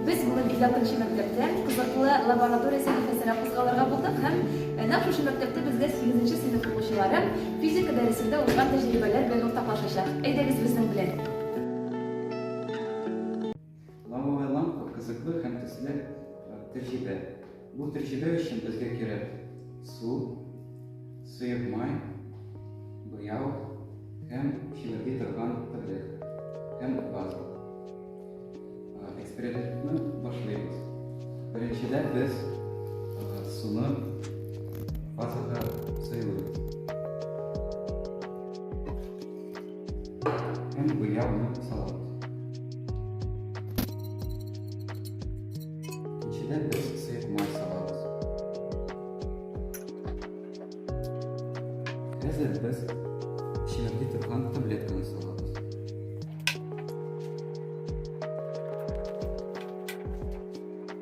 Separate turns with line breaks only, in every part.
Без бүген 56 нчы мәктәптә кызыклы лаборатория сәхифәсенә кузгалырга булдык һәм нәкъ шушы мәктәптә безгә 8 нче сыйныф укучылары физика дәресендә узган тәҗрибәләр белән уртаклашачак. Әйдәгез безнең белән! Лавовая лампа, кызыклы һәм төсле тәҗрибә. Бу тәҗрибә өчен безгә кирәк су, сыек май, буяу һәм чимерди торган терлек һәм база. Экспериментны башлыйбыз. Беренчедән без суны базага сыйлыйбыз. Һәм гуляуны салат. Икенчедән без сыек май салабыз. Хәзер без чимерди торган таблетканы салабыз.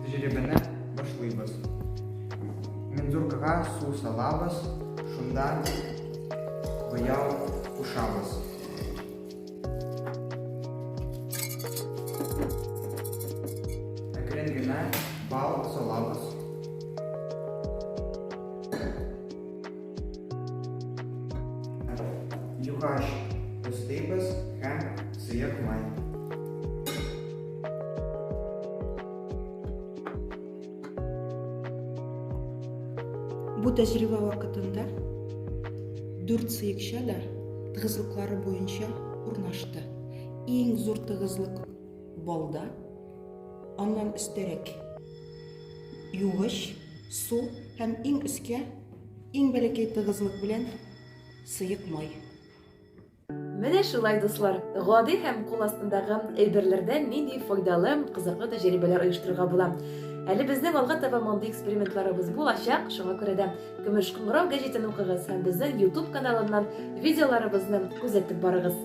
Тәҗрибәне башлыйбыз. Мензуркага су салабыз, шунда буяу кушабыз. Әкрен генә бал салабыз. Юхаш өстибез һәм сыек май. Бу тәҗрибә вакытында дүрт сыекча да тыгызлыклары буенча урнашты. Иң зур тыгызлык балда, аннан өстәрәк югыш, су һәм иң өскә Иң бәләкәй тыгызлык белән сыек май. Менә шулай, дуслар, гади һәм кул астындагы әйберләрдән нинди файдалы, кызыклы тәҗрибәләр оештырырга була. Әле безнең алга таба мондый экспериментларыбыз булачак, шуңа күрә дә Көмеш кыңгырау гәҗитен укыгыз һәм безнең YouTube каналыннан видеоларыбызны күзәтеп барыгыз.